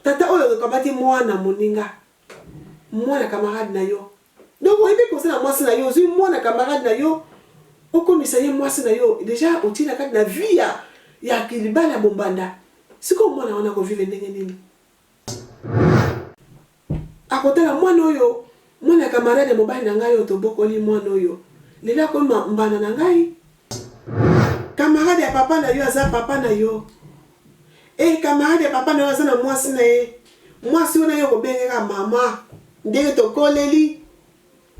tata oyo okamati mwana moninga mwana camarade na yo donc oyebi kosala mwasi na yo ozwi mwana camarade na yo okomisa ye mwasi na yo deja otie na kati na vie ya ya libala bombanda sikoyo mwana wana akovivre ndenge nini Akotala mwana oyo, mwana ya camarade ya mobali na ngai oyo tobokoli, mwana oyo lelo akomi ma, mbanda na ngai. Camarade ya papa na yo aza papa na yo. Ee, camarade ya papa na yo aza na mwasi na ye. Mwasi wana yo okobenge kaka mama. Ndenge tokoleli,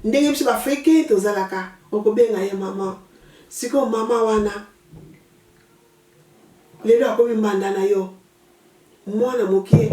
ndenge biso b'Africains tozalaka, okobenga ye mama. Sikoyo mama wana, lelo akomi mbanda na yo. Mwana mokie.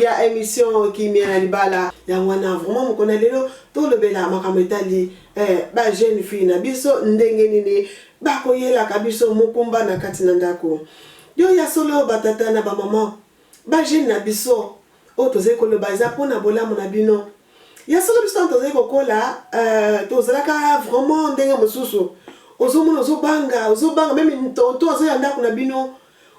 ya emission kimia na libala yango wana vraiment mokona lelo tolobela makambo etali eh, ba jeune fille na biso ndenge nini bakoyelaka biso mokumba na kati na ndako yo ya solo batata na bamama bajeune na biso oyo tozali koloba eza mpo na bolamu na bino ya solo biso ntango tozali kokola euh, tozalaka vraiment ndenge mosusu ozomona ozobanga ozobanga meme tonto azoya ndako na bino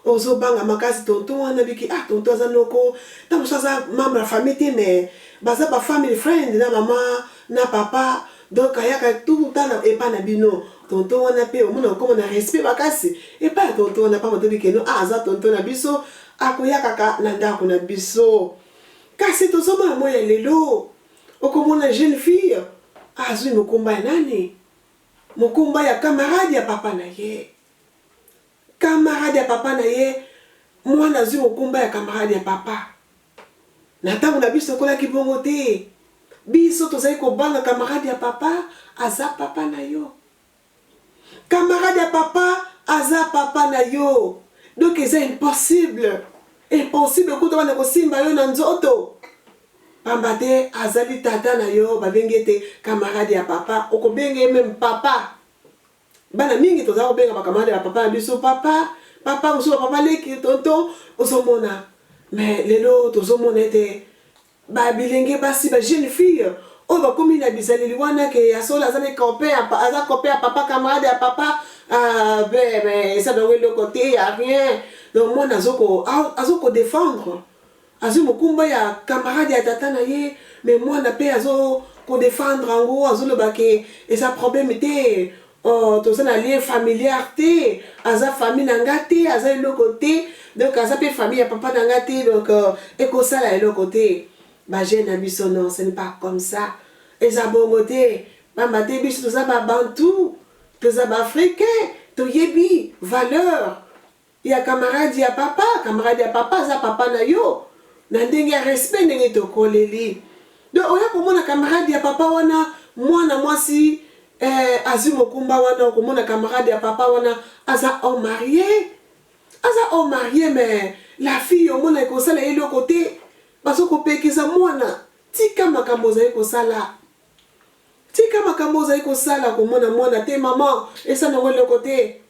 Ozo banga makasi tonton wana biki ah tonton aza noko tango mosusu aza membre ya famille te mais baza ba family friend na maman na papa donc ayaka tout le temps epa na bino tonton wana pe omona kokoma na respect makasi epa ya tonton wana pamba tobi keno ah aza tonton na biso akoyakaka na ndako na biso kasi tozomona moi ya lelo okomona jeune fille azwi mokumba ya nani mokumba ya camarade ya papa na ye Camarade ya papa na ye mwana azui mokumba ya camarade ya papa na tango na biso ekolaki bongo te biso tozali kobanga camarade ya papa aza papa na yo camarade ya papa aza papa na yo donc eza impossible impossible kuta wana kosimba yo na nzoto pamba te azali tata na yo babengi ete camarade ya papa okobenga ye meme papa Bana mingi tozalaka kobenga bakamarade ya papa na biso papa, papa, mosusu ba papa leki, tonton, ozomona. Mais lelo tozomona ete ba bilenge basi, ba jeunes filles oyo bakomi na bizaleli wana ke ya solo aza ne copain, aza copain ya papa, camarade ya papa, ah, ben, ben, esa bango eloko te, ya rien. Donc mwana azoko, azoko defendre. Azui mokumba ya camarade ya tata na ye mais muana pe azo ko defendre yango azo loba ke eza problème te ooh toza na lien familiar te aza famille na nga te aza eloko te donc aza pe famille ya papa na nga te donc eko sala eloko te ba jeune na biso non ce n'est pas comme ça eza bongo te pamba te biso toza ba bantou toza ba africain toyebi valeur Ya camarade ya papa, camarade ya papa aza papa na yo na ndenge ya respect ndenge tokoleli. Donc oya komona camarade ya papa wana mwana mwasi eh, azwi mokumba wana okomona camarade ya papa wana aza homme marie aza homme marie mais la fille omona ekosala ye eloko te bazokopekisa mwana tika makambo ozali kosala tika makambo ozali kosala komona mwana te mama esala yango eloko te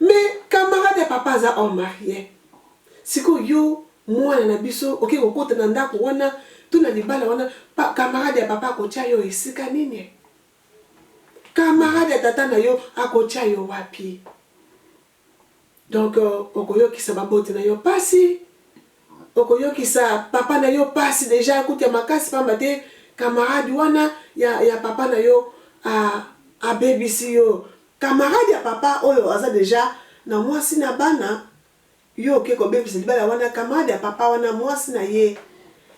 Mais camarade ya papa aza homme marie sikoyo yo mwana na biso oke kokota na ndako wana to na libala wana pa, camarade ya papa akotia yo esika nini camarade ya tata na yo akotia yo wapi donc euh, okoyokisa baboti na yo mpasi okoyokisa papa na yo mpasi deja akuti ya makasi pamba te camarade wana ya, ya papa na yo abebisi yo Camarade ya papa oyo aza dejà na mwasi na bana yo oke kobebisa libala wana camarade ya papa wana mwasi na ye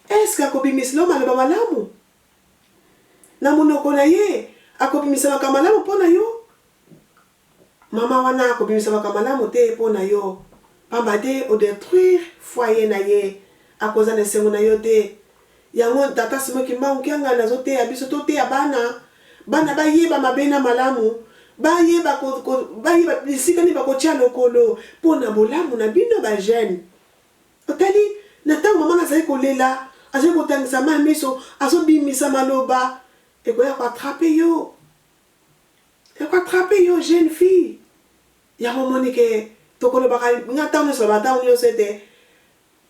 est-ce que akobimisla yo maloba malamu? Na monoko na ye akobimisa makambo malamu mpo na yo? Maman wana akobimisa makambo malamu te mpo na yo pamba te o detruire foyer na ye akozala na esengo na yo te Yango Ntata Simon Kimbangu Kiangani azoteya biso, toteya bana, bana bayeba mabe na malamu, bayeba ko, ko, bayeba bisika nini bakotia lokolo mpo na bolamu na bino ba jeunes. Otali na ntango mama na azali kolela, azali kotangisa mai miso, azobimisa maloba, ekoya ko attraper yo, eko attraper yo jeune fille. Yango omoni ke tokolobaka, nga ntango nyonso nalobaka ntango nyonso ete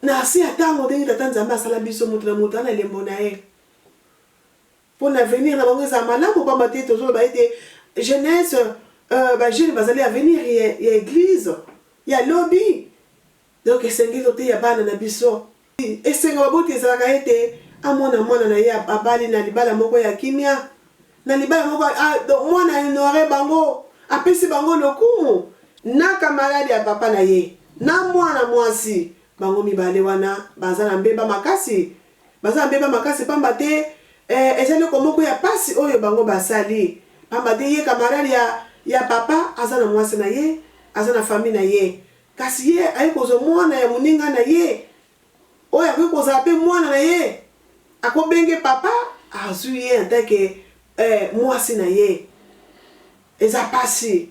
Na se ya tango, ndenge Tata Nzambe asala biso, moto na moto azala na elembo na ye, po na avenire na bango ezala malamu, pamba te tozoloba ete jeunesse, euh, ba jeunes bazali avenire ya, ya eglise ya lobi. Donc esengeli toteya bana na biso. Esengo ya baboti ezalaka ete amona mwana na ye abali na libala moko ya kimia. na libala moko ah, donc mwana honore bango apesi bango lokumu na kamarade ya papa na ye na mwana mwasi bango mibale wana baza na mbeba makasi baza na mbeba makasi mpamba te eh, ezali eloko moko ya pasi oyo bango basali mpamba te ye kamarade ya, ya papa aza na mwasi na ye aza na fami na ye kasi ye aye kozwa mwana ya moninga na ye oyo akoki kozala pe mwana na ye ako benge papa azui ye en tant que muasi na ye eza pasi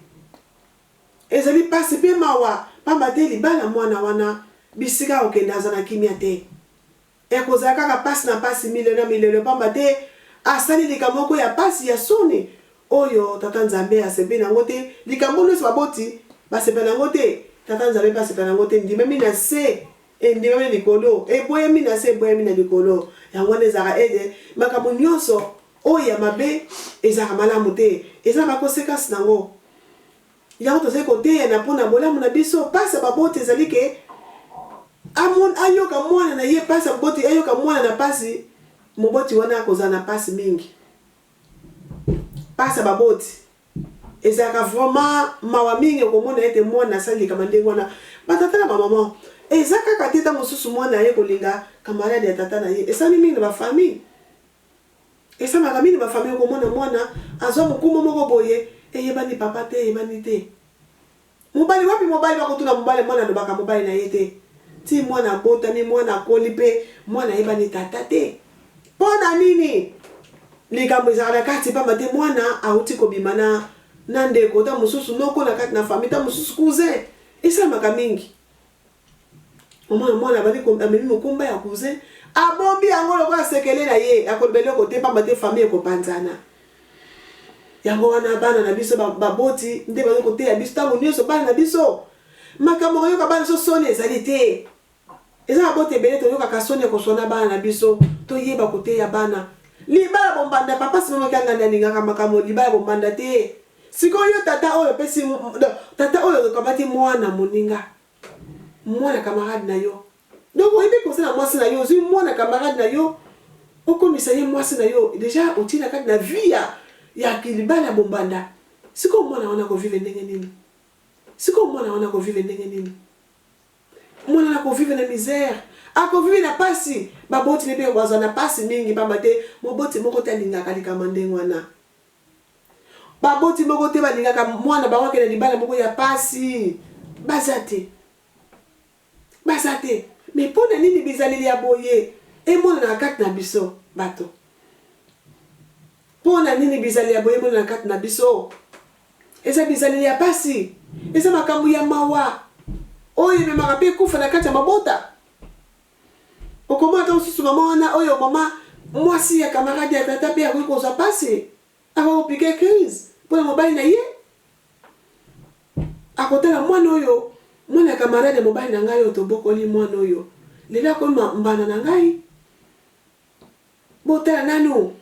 ezali pasi pe mawa pamba te libala mwana wana bisika akokende aza na kimia te eko zala kaka pasi na pasi milelo na milelo pamba te asali likambo moko ya pasi ya soni Oyo Tata Nzambe asepeli na yango te, likambo nyonso baboti basepela na yango te, Tata Nzambe mpe asepela na yango te, endimami na se, endimami na likolo, eboyami na se, eboyami na likolo. Yango wana ezalaka ete makambo nyonso oyo ya mabe ezalaka malamu te, eza na ba consequences na yango. Yango tozali koteyana mpo na bolamu na biso. Mpasi ya baboti ezali ke amon, ayoka mwana na ye mpasi ya baboti, ayoka mwana na mpasi, moboti wana akozala na mpasi mingi. Pasi ya baboti ezalaka vraiment mawa mingi okomona ete mwana asali likama ndenge wana ba tata na ba maman eza kaka te tango mosusu mwana aye kolinga camarade ya tata na ye esalami mingi na ba famille esalamaka mingi na ba famille okomona mwana azwa mokumba moko boye eyebani papa te eyebani te Mobali wapi mobali bakotuna mobali mwana alobaka mobali na ye te ti mwana abotami mwana akoli pe mwana ayebani tata te po na nini likambo ezaka na kati pamba te mwana awuti kobima na na ndeko ta mosusu noko na kati na famille ta mosusu cousin esalamaka mingi Mama ya mwana abandi amemi mokumba ya cousin, abombi yango lokola sekele na ye, akoloba eloko te mpamba te famille ekopanzana. Yango wana bana na biso baboti nde bazali koteya biso ntango nyonso, bana na biso makambo koyoka bana biso soni ezali te. Eza baboti ebele toyokaka soni ya koswana bana na biso, toyeba koteya bana libala bombanda papa sima makanga nde alingaka makambo libala bombanda te Sikoyo yo tata oyo opesi tata oyo okamati mwana moninga mwana camarade na yo donc oyebi kosala na mwasi na yo ozwi mwana camarade na yo okomisa ye mwasi na yo deja otie na kati na vie ya ya kilibala ya bombanda sikoyo mwana wana kovive ndenge nini sikoyo mwana wana kovive ndenge nini mwana wana kovive na misère akovive na mpasi baboti ne mpe bazwa na mpasi mingi mpamba te moboti moko te alingaka likambo ndenge wana Baboti moko te balingaka mwana na bango akende na libala moko ya mpasi. Baza te. Baza te. Mais mpo na nini bizaleli ya boye emonanaka kati na biso bato? Mpo na nini bizaleli ya boye emonanaka kati na biso? Eza bizaleli ya mpasi. Eza makambo ya mawa oyo ememaka mpe kufa na kati ya mabota. Okomona ntango mosusu mama wana oyo mama mwasi ya kamaradi ya tata mpe akoki kozwa mpasi, akoki kopike crise mpo na mobali na ye. Akotala mwana oyo, mwana ya kamaradi ya mobali na ngai oyo tobokoli mwana oyo, lelo akomi mbanda na ngai. Botala nanu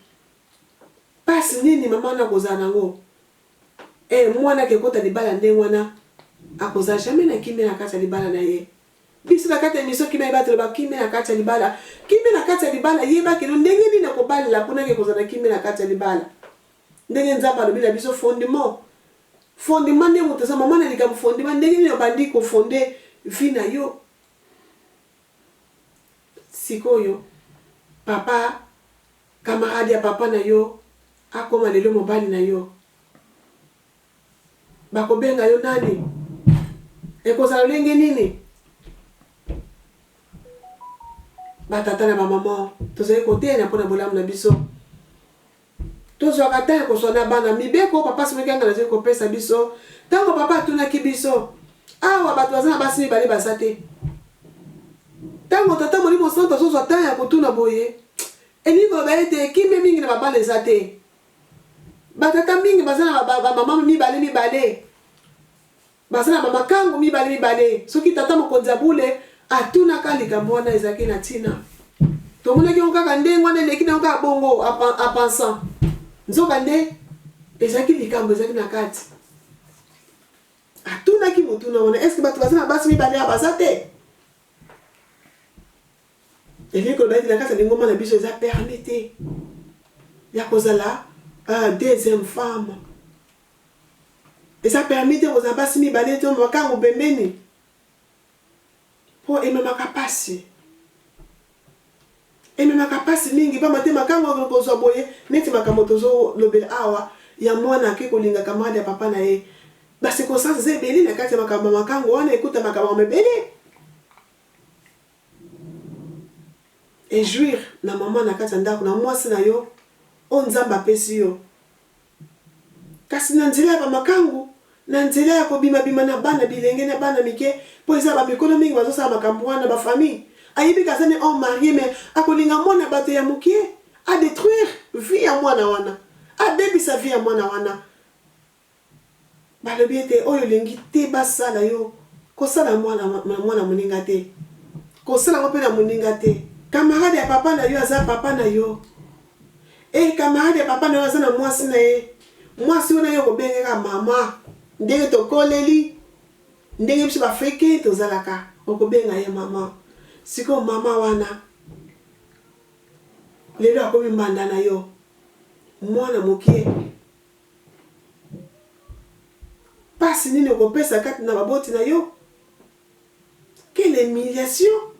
mpasi nini mama wana akozala na yango. E, mwana akekota libala ndenge wana, akozala jamais na kimia na kati ya libala na ye. Biso na kati ya emission kimia ebatela ba kimia na kati ya libala kimia na kati ya libala yeba keno ndenge nini na kobalela pona ke kozala na kimia na kati ya libala ndenge nzambe alobi na biso fondement fondement nde moto eza mama na likambo fondement ndenge nini obandi kofonde vi na yo sikoyo papa camarade ya papa na yo akoma lelo mobali na yo Bakobenga yo nani? Ekozala lolenge nini? Batata na bamama, tozali koteyana mpo na bolamu na biso. Tozwaka ntango ya koswa na bana. Mibeko papa soki anga nazali kopesa biso, ntango papa atunaki biso, awa bato baza na basi mibale baza te. Ntango tata molimo santo azozwa ntango ya kotuna boye, elingi koloba ete kimia mingi na babana eza te. Ba tata mingi baza na ba ba mama mibale mibale baza na ba makangu mibale mibale soki tata mokonzi ya bule atunaka likambo wana ezalaki na ntina tomonaki yango kaka ndenge wana eleki na yango kaka bongo apansant nzoka nde ezalaki likambo ezalaki na kati atunaki motuna wana eske bato baza na basi mibale ya baza te Elingi koloba ete na kati ya lingomba na biso eza permis te ya kozala uh, deuxième femme. Eza permis te kozala basi mibale to makango pembeni mpo ememaka mpasi ememaka mpasi mingi mpamba te makambo oyo kozwa boye neti makambo tozolobela awa ya mwana ake kolinga kamarade ya papa na ye bacirconstance eza ebele na kati ya makambo ya makango wana ekuta makambo mabele Et jouir na maman na kati ya ndako na mwasi na yo oyo Nzambe apesi yo. Kasi na nzela ya ba makangu, na nzela ya ko bima bima na bana bilenge na bana mike, po eza ba mikolo mingi bazo sala makambu wana, ba famille. Ayebi ke aza ne homme marie mais ako linga mwana ya batu ya mukie a detruire vie ya mwana wana, a bebisa vie ya mwana wana. Balobi ete, Oyo olingi te basala yo, kosala yango na mwana ya moninga te. Kosala yango mpe na moninga te. Kamarade ya papa na yo aza papa na yo. Ee, kamarade ya papa na yo aza na mwasi na ye. Mwasi wana yo okobengaka mama. Ndenge tokoleli, ndenge biso Baafrike tozalaka, okobenga ye mama. Sikoyo mama wana, lelo akomi mbanda na yo, mwana moke. Pasi nini okopesa kati na baboti na yo? Quelle humiliation!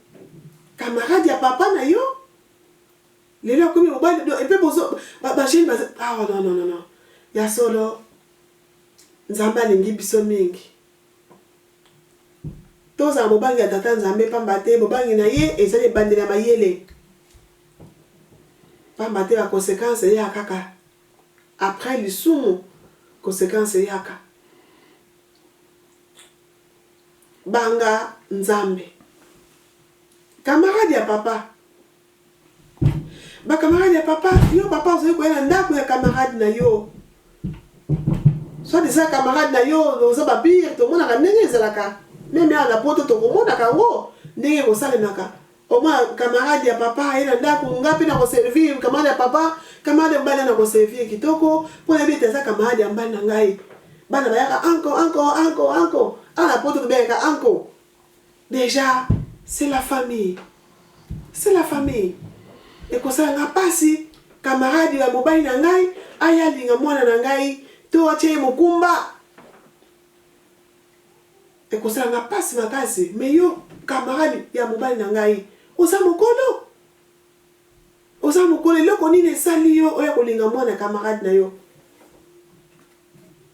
Camarade ya papa na yo lelo akomi mobali do epe bozo ba ba jeune baza ah oh, non non non non ya solo Nzambe alingi biso mingi tozala bobangi ya tata Nzambe pamba te bobangi na ye ezali ebandeli ya mayele pamba te ba conséquences eyaka kaka Après lisumu consequence eyaka. Banga Nzambe. Camarade ya papa. Ba camarade ya papa, yo papa ozoki koya na ndaku ya camarade na yo. Soit disant camarade na yo oza ba bir tomonaka ndenge ezalaka. Meme awa na poto tokomonaka yango ndenge ekosalemaka. Au moins camarade ya papa aye na ndaku nga pe nako servir camarade ya papa, camarade ya mobali na nako servir kitoko po nayebi ete aza camarade ya mobali na ngai. Bana bayaka uncle uncle uncle uncle awa na poto tobengaka uncle dejà c'est la famille c'est la famille ekosala nga pasi camarade ya mobali na ngai aya alinga mwana na ngai to atia ye mokumba Ekosala nga pasi makasi mais yo camarade ya mobali na ngai oza mokolo? Oza mokolo eloko nini esali yo oya kolinga mwana camarade na yo?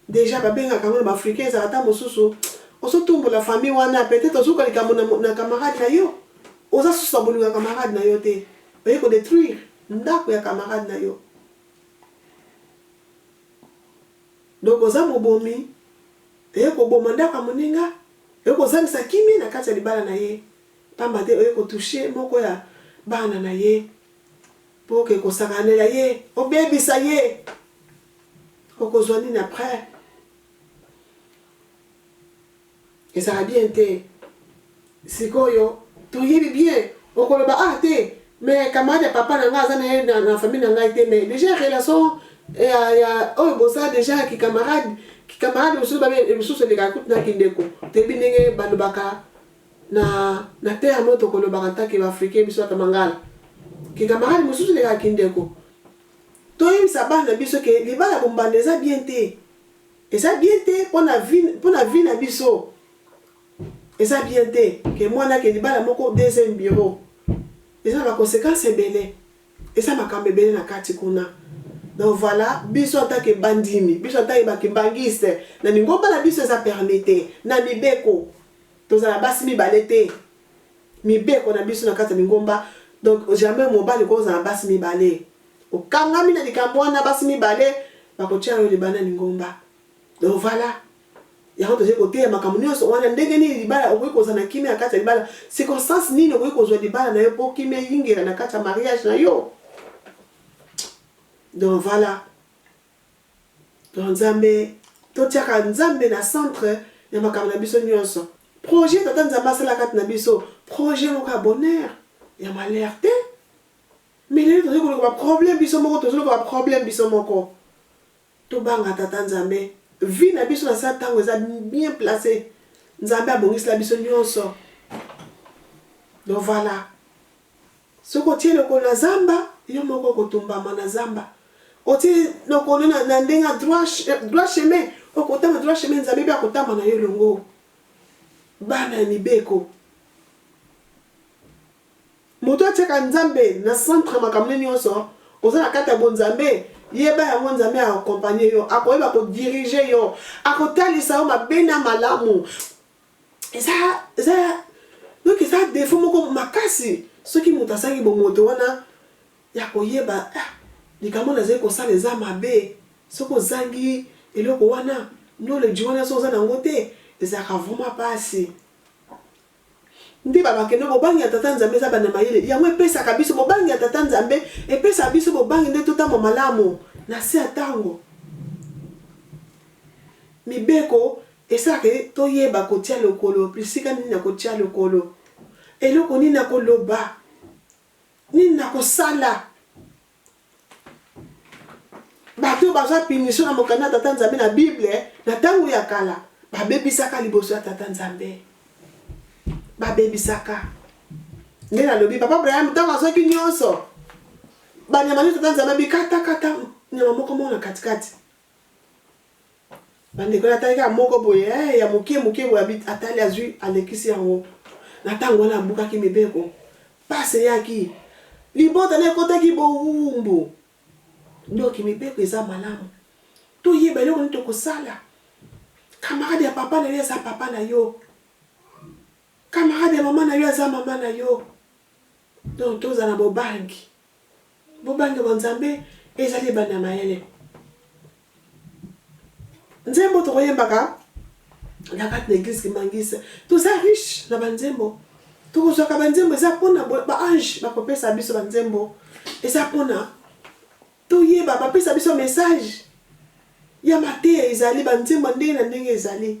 Dejà ba bengaka yango na ba africain ezalaka ta mosusu ozo tumbola famille wana peut être ozuka likambo na, na camarade na yo oza susu na bolingo ya camarade na yo te oye ko detruire ndako ya camarade na yo. Donc oza mobomi oye koboma ndako ya moninga oye kozangisa kimia na kati ya libala na ye pamba te oye ko touche moko ya bana na ye po oke kosakanela ye obebisa ye okozua nini après. Ezala bien te sikoyo toyebi bien okoloba awa te mais camarade ya papa na nga aza naye na famille na ngai te mais dejà relation ya ya oyo boza dejà ki camarade ki camarade mosusu babe mosusu elekaka kutu na kindeko toyebi ndenge balobaka na na terme oyo tokolobaka ntake ba africain biso ata mangala ki camarade mosusu elekaka kindeko toyebisa bana biso ke libala bombanda eza bien te Eza bien te pona vie pona vie na biso eza bien te que muana ke libala moko deuxième bureau eza na ba consequence ebele eza makambo ebele na kati kuna donc voilà biso en tant que ba ndimi biso en tant que ba kimbanguiste na lingomba na biso eza permis te na mibeko tozala basi mibale te mibeko na biso na kati ya lingomba donc jamais mobali kozala basi mibale Okangami na likambo wana basi mibale bakotia yo libanda ya lingomba. Donc voilà. Yango tozali koteya makambo nyonso wana ndenge nini libala okoki kozala na kimia na kati ya libala. Circonstance nini okoki kozwa libala na yo mpo kimia eyingela na kati ya mariage na yo. Donc voilà. Donc Nzambe totiaka Nzambe na centre ya makambo na biso nyonso. Projet tata Nzambe asala kati na biso, projet moko ya bonheur, ya malheur te. Mais lelo tozo koluka ba problème biso moko tozo luka ba problème biso moko to banga tata nzambe vie na biso na sa tango eza bien place nzambe abongisela biso nionso donc voilà soki otie lokolo na zamba yo moko okotumbama na zamba otie lokolo na, na ndenge ya droit chemin okotama droit chemin nzambe mpe akotama na yo elongo bana ya mibeko Moto atiaka Nzambe na centre ya makambo ne nionso, oza na kati ya bonzambe, yeba yango Nzambe a accompagner yo, akoyeba ko diriger yo, akotalisa yo mabe na malamu, eza eza donc eza defaut moko makasi soki moto azangi bomoto wana ya koyeba ah likambo nazali kosala eza mabe, soki ozangi eloko wana, knowledge wana soki oza na yango te ezalaka vraiment pasi. Nde ba bakende bobangi ya tata nzambe eza banda mayele yango epesaka biso bobangi ya tata nzambe epesaka biso bobangi nde totamba malamu na se ya tango mibeko esalaka ye toyeba kotia lokolo esika nini nakotia lokolo eloko nini nakoloba nini nakosala bato oyo bazwa punition na mokanda ya tata nzambe na bible na ntango ya kala babebisaka liboso ya tata nzambe babebisaka nde nalobi papa abraham ntango azwaki nyonso banyama nde tata nzambe abikatakata nyama moko moko na katikati Bandeko na tali kaka moko boye eh, ya moke moke boye abit atali azui alekisi yango. Na tango wana abukaki mibeko. Pasi eyaki. Libota na ekotaki bowumbu. Ndoki mibeko eza malamu. Toyeba eloko nini tokosala. Camarade ya papa na yo aza papa na yo. Camarade ya mama na yo aza mama na yo. Donc tozala na bobangi. Bobange bwa Nzambe ezali ebandi ya mayele. Nzembo tokoyembaka na kati na eglise kimangise toza riche na banzembo tokozwaka banzembo eza mpona baange bakopesa biso banzembo eza mpona toyeba bapesa biso message ya mateya ezali banzembo ndenge na ndenge ezali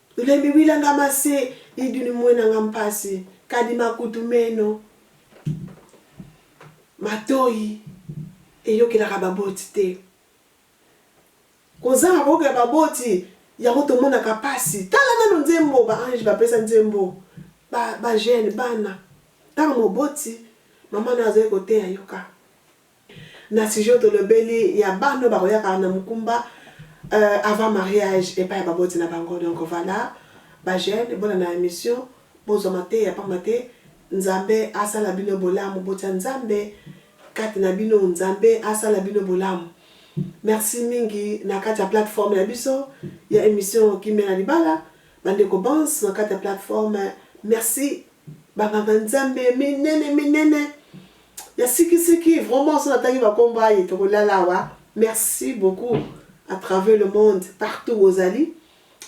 Lembi wila nga ma se i duni muena nga mpasi kadi makutu meno matoyi eyokelaka baboti te kozanga koyokela baboti yango tomonaka mpasi tala nano nzembo ba ange bapesa nzembo ba, ba jeune bana ntango moboti mama nayo azali koteya yoka Na sujet oyo tolobeli ya bana oyo bakoyaka na mokumba avant mariage epai ya baboti na bango donc voila ba jeunes bolanda emission bozwa mateya pamba te Nzambe asala bino bolamu botia Nzambe kati na bino Nzambe asala bino bolamu merci mingi na kati ya plateforme na biso ya emission kimia na libala ba ndeko bans na kati ya plateforme merci ba nganga Nzambe minene minene Ya siki siki vraiment soki natangi ba kombo aye toko lala awa merci beaucoup à travers le monde partout bozali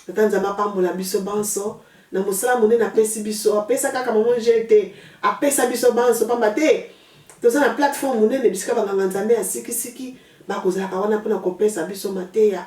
tata nzambe apambola biso banso na mosala monene apesi biso apesa kaka mama angel te apesa biso banso pamba te toza na plateforme monene bisika banganga nzambe ya sikisiki bakozalaka wana mpona kopesa biso mateya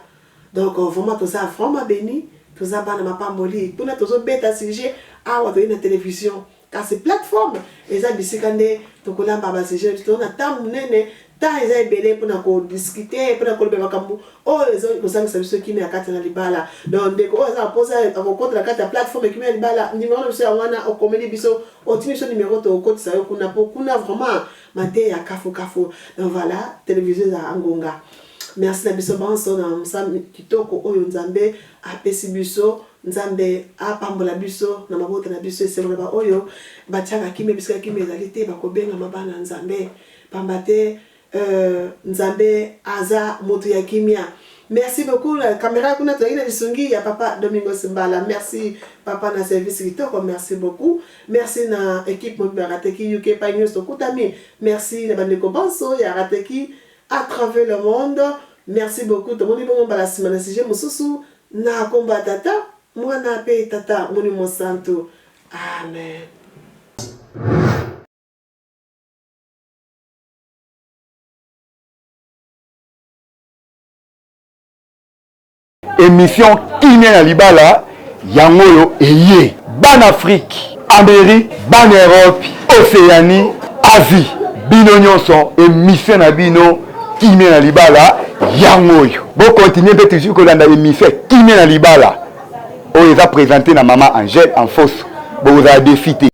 donc euh, vraiment toza vraiment beni toza bana mapamboli kuna tozobeta sujet awa toyei na television Kasi plateforme eza bisika nde tokolamba ba sujet to na temps munene temps eza ebele mpona ko discuter mpona koloba makambo oyo oh, ezali kozangisa biso kimia kati na libala donc ndeko oyo oh, aza na posa akokota na kati ya plateforme kimia ya libala nimero na biso ya wana okomeli biso otimi biso nimero tokokotisa yo kuna mpo kuna vraiment mateya kafukafu donc voilà televizio ezala ngonga merci na biso banso na mosala kitoko oyo nzambe apesi biso Nzambe apambola biso na mabota na biso esengo na ba oyo batiaka kimia bisika kimia ezali te bakobengama bana ya Nzambe pamba te euh, Nzambe aza moto ya kimia. Merci beaucoup na camera kuna tozalaki na lisungi ya papa Domingos Mbala. Merci papa na service kitoko, merci beaucoup. Merci na equipe mobimba ya Rateki UK pa nyonso tokutami. Merci na bandeko banso ya Rateki à travers le monde. Merci beaucoup. Tomoni bongo mbala nsima na sujet mosusu. Na kombo ya Tata, Muana mpe Tata Molimo Mosantu, amen. Emission kimia na libala yango oyo eye. Bana Afrique Ameri, bana Europe, Oceanie, Asie, bino nyonso emission na bino kimia na libala yango oyo. Bo continuer mpe toujours kolanda emission ya kimia na libala oyo eza presente na mama Angèle en fausse. Bokozala defi te.